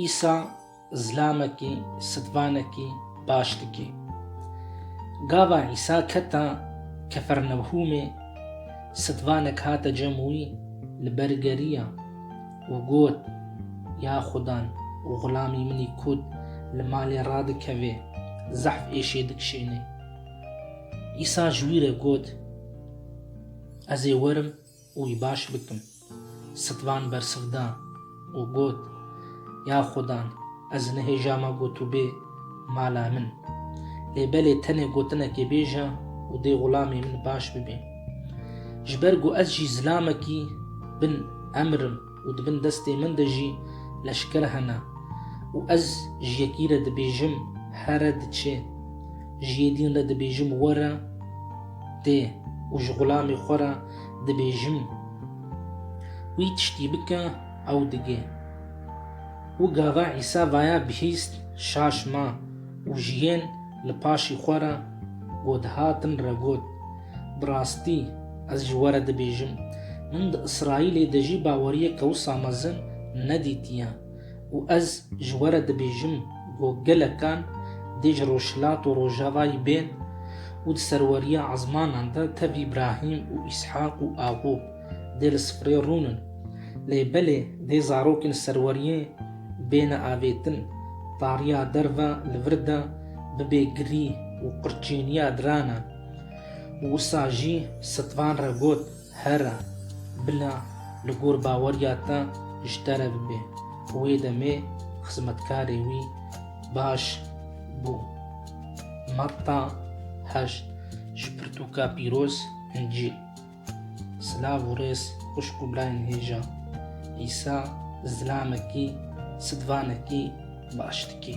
Îsa zilamekî sidvanekî baş dike. Gava Îsa keta Kefernewhûmê, sidvanek hate cem wî li ber geriya û got, Ya Xudan, xulamî min î kût li malê radikeve, zehf êşê dikişêne. Îsa ji wî re got, Ez ê werim û wî baş bikim. Sitvan bersiv da û got, Ya Xudan, ez nihêja ma ku tu bê mala min. Lê belê tenê gotinekê bêje û dê xulamê min baş bibe. Ji ber ku ez jî zilamekî bin emr im û di bin destê min de jî leşker hene û ez ji yekî re dibêjim here diçe, ji yê dîn re dibêjim were dê û ji xulamê xwe re dibêjim wî tiştî bike ew digê. Û gava Îsa vaya bihîst şaş ma û jiyên li paşî xwe re ku dihatin re got, Bi rastî ez ji we re dibêjim, min di Îsraîlê de jî baweriyeke wisa mezin nedîtiye. û ez ji we re dibêjim ku gelekan dê ji Rojhilat û Rojavayî bên û di serweriya ezmanan de tev Îbrahîm û Îshaq û Aqûb dê li sifrê rûn in. Lê belê dê zarokên li serweriyê bêne avêtin, tariya derve li vir de bibe girî û qirçêniya diran e. Û wisa jî Sitvan re got. Here, bila li gor baweriya te ji te re bibe. Wê demê xizmetkarê wî baş bû. Matta heşt Ji pirtûka pîroz hincî silav û rêz xwişk û birayên hêja Îsa zilamekî sidvanekî baş dikî.